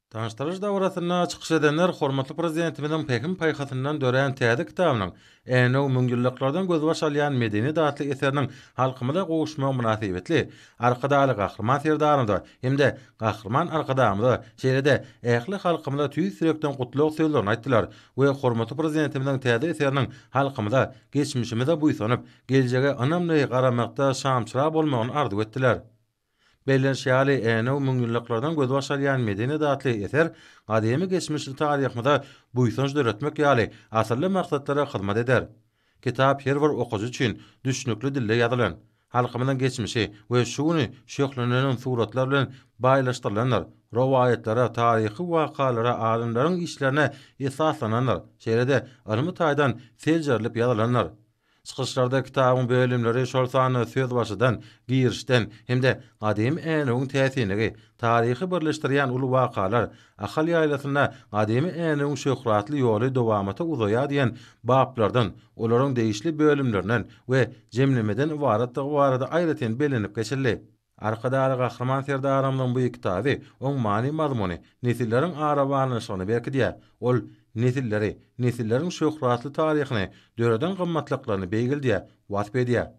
Tanyşdyryş dabarasynda çykyş edenler hormatly Prezidentimiziň pähim-paýhasyndan dörän täze kitabynyň Änew müňýyllyklardan gözbaş alýan medeniýet atly eseriniň halkymyza gowuşmagy mynasybetli Arkadagly Gahryman Serdarymyza hem-de Gahryman Arkadagymyza, şeýle-de ähli halkymyza tüýs ýürekden gutlag sözlerini aýtdylar we hormatly Prezidentimiziň täze eseriniň halkymyza, geçmişimize buýsanyp, geljege ynamly garamakda şamçyrag bolmagyny arzuw etdiler. Bellenişi ýaly, Änew müňýyllyklardan gözbaş alýan medeni datly eser gadymy geçmişli taryhymyza buýsanç döretmek ýaly asylly maksatlara hyzmat eder. Kitap her bir okyjy üçin düşnükli dilde ýazylan, halkymyzyň geçmişi we şu güni şöhlenenem suratlar bilen baýlaşdyrylandyr, rowaýatlara, taryhy wakalara, alymlaryň işlerine esaslanandyr, şeýle-de ylmy taýdan seljerilip ýazylandyr. Çykyşlarda kitabyň bölümleri, şol sanda sözbaşydan, girişden, hem-de gadymy Änewiň täsinligi, taryhy birleşdirýän uly wakalar, Ahal ýaýlasynda gadymy Änewiň şöhratly ýoly dowamata uzaýar diýen baplardan, olaryň degişli bölümlerinden we jemlemeden ybaratdygy barada aýratyn bellenip geçildi. Arkadagly Gahryman Serdarymyzyň bu kitaby, oň many-mazmuny nesilleriň ara baglanyşygyny berkidýär. Ol nesilleri, nesilleriň şöhratly taryhyny, döreden gymmatlyklaryny beýgeldýär, wasp edýär.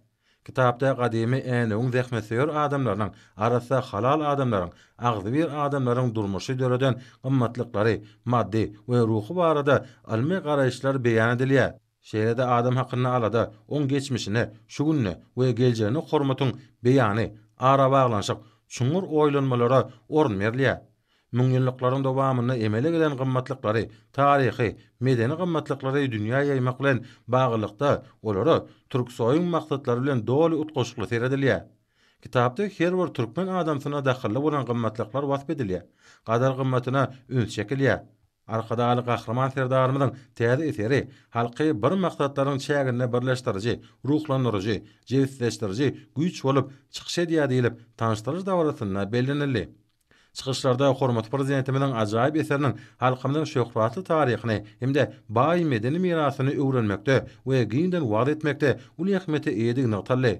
Kitapda gadymy Änewiň zähmetsöýer adamlarynyň, arassa, halal adamlaryň, agzybir adamlaryň durmuşy, döreden gymmatlyklary, maddy we ruhy barada ylmy garaýyşlar beýan edilýär. Şeýle-de adam hakynda alada, oň geçmişine, şu gününe we geljegine hormatyň beýany, arabaglanyşyk, çuňňur oýlanmalara orun berilýär. Müňýyllyklaryň dowamynda emele gelen gymmatlyklary, taryhy, medeni gymmatlyklary dünýä ýaýmak bilen baglylykda olara Türksoýuň maksatlary bilen doly utgaşykly seredilýär. Kitapda her bir türkmen adamsyna dahylly bolan gymmatlyklar wasp edilýär, gadyr-gymmatyna üns çekilýär. Arkadagly Gahryman Serdarymyzyň täze eseri halky bir maksatlaryň çäginde birleşdiriji, ruhlandyryjy, jebisleşdiriji güýç bolup çykyş edýär diýlip, tanyşdyryş dabarasynda bellenildi. Çykyşlarda hormatly Prezidentimiziň ajaýyp eseriniň halkymyzyň şöhratly taryhyny hem-de baý medeni mirasyny öwrenmekde we giňden wagyz etmekde uly ähmiýete eýedigi nygtaldy.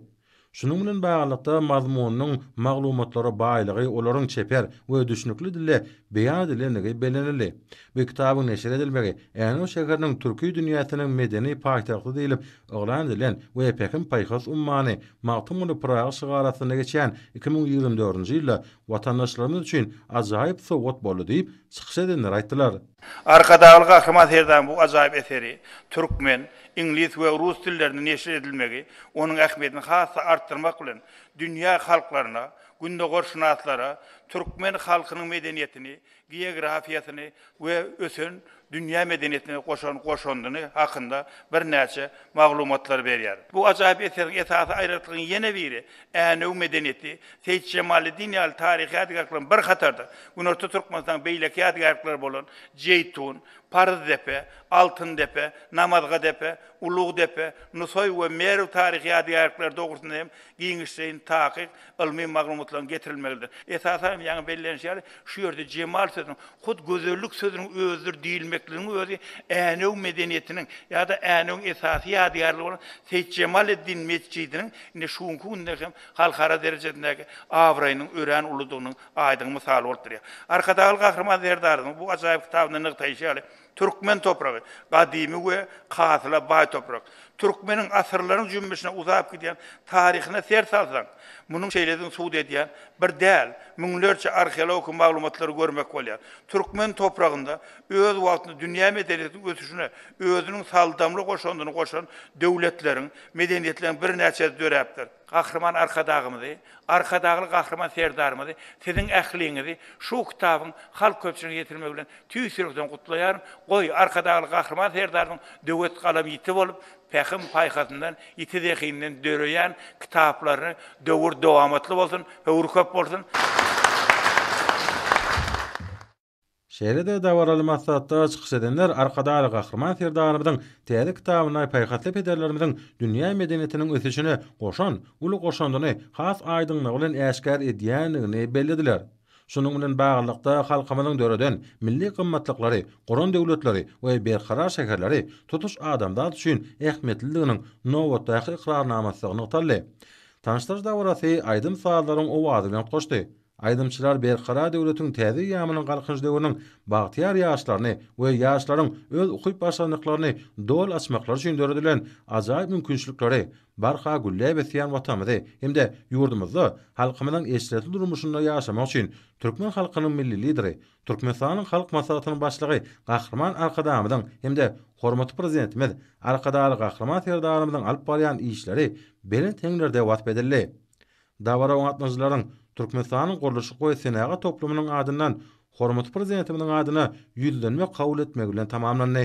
Şunuň bilen baglylykda, mazmunynyň maglumatlara baýlygy, olaryň çeper we düşnükli dilde beýan edilendigi bellenildi. Bu kitabyň neşir edilmegi Änew şäheriniň Türki dünýäsiniň medeni paýtagty diýlip yglan edilen we Pähim-paýhas ummany, Magtymguly Pyragy şygary astynda geçýän iki müň ýigrimi dördünji ýylda watandaşlarymyz üçin ajaýyp sowgat boldy diýip, çykyş edenler aýtdylar. Arkadagly Gahryman Serdarymyň bu ajaýyp eseri türkmen, iňlis we rus dillerinde neşir edilmegi onuň ähmiýetini has-da artdyrmak bilen, dünýä halklaryna, gündogarşynaslara türkmen halkynyň medeniýetini, geografiýasyny we ösen dünýä medeniýetine goşan goşandyny hakynda birnäçe maglumatlary berýär. Bu ajaýyp eseriň esasy aýratlygynyň ýene biri, Änew medeniýeti, Seýit Jemaleddin ýaly taryhy ýadygärlik bilen bir hatarda, Günorta Türkmenistanyň beýleki ýadygärlikleri bolan Jeýtun, Paryzdepe, Altyndepe, Namazgadepe, Ulugdepe, Nusaý we Merw taryhy ýadygärlikleri dogrusynda hem giňişleýin takyk, ylmy maglumatlaryň getirilmegidir. Esasan hem ýaňy bellenişi ýaly, Şu ýerde jemal sözüniň, hut gözellik sözüniň özüdir diýilmekligiň özi Änew medeniýetiniň ýa-da Änewiň esasy ýadygärligi bolan Seýitjemaleddin metjidiniň indi şu günki günde hem halkara derejesindäki abraýynyň örän uludygynyň aýdyň mysaly bolup durýar. Arkadagly Gahryman Serdarymyzyň bu ajaýyp kitabynda nygtaýşy ýaly, Türkmen topragy, gadymy we hasyla baý toprak. Türkmeniň asyrlaryň jümmüşine uzap gidýän taryhyna ser salsaň, munuň şeýledigini subut edýän bir däl, müňlerçe arheologik maglumatlary görmek bolýar. Türkmen topragynda öz wagtynda dünýä medeniýetiniň ösüşine özüniň saldamly goşandyny goşan döwletleriň, medeniýetleriň birnäçesi döräpdir. Gahryman Arkadagymyzy, Arkadagly Gahryman Serdarymyzy, siziň ähliňizi şu kitabyň halk köpçüligine ýetirmegi bilen Tüýs ýürekden gutlaýaryn. Goý, Arkadagly Gahryman Serdarymyzyň döwet galam ýiti bolup, pähim-paýhasyndan, ýiti zehininden döreýän kitaplaryny döwür dowamatly bolsun, höwri köp bolsun! Şeýle-de dabaraly maslahatda çykyş edenler Arkadagly Gahryman Serdarymyzyň täze kitabynda paýhasly pederlerimiziň dünýä medeniýetiniň ösüşine goşan uly goşandyny has aýdyňlygy bilen äşgär edýändigini bellediler. Şunuň bilen baglylykda, halkymyzyň döreden milli gymmatlyklary, guran döwletleri we berkarar şäherleri tutuş adamzat üçin ähmiýetlidiginiň nobatdaky ykrarnamasydygy nygtaldy. Tanyşdyryş dabarasy aýdym-sazlaryň owazy bilen utgaşdy. Aýdymçylar Berkarar döwletiň täze eýýamynyň Galkynyş döwrüniň bagtyýar ýaşlaryny we ýaşlaryň öz ukyp-başarnyklaryny doly açmaklary üçin döredilen ajaýyp mümkinçilikleri, barha gülläp ösýän Watanymyzy hem-de ýurdumyzda halkymyzyň eşretli durmuşynda ýaşamak üçin türkmen halkynyň Milli Lideri, Türkmenistanyň Halk Maslahatynyň Başlygy Gahryman Arkadagymyzyň hem-de hormatly Prezidentimiz Arkadagly Gahryman Serdarymyzyň alyp barýan işleri belent heňlerde wasp edildi. Dabara gatnaşyjylaryň Türkmenistanyň gurluşyk we senagat toplumynyň adyndan hormatly Prezidentimiziň adyna ýüzlenme kabul etmegi bilen tamamlandy.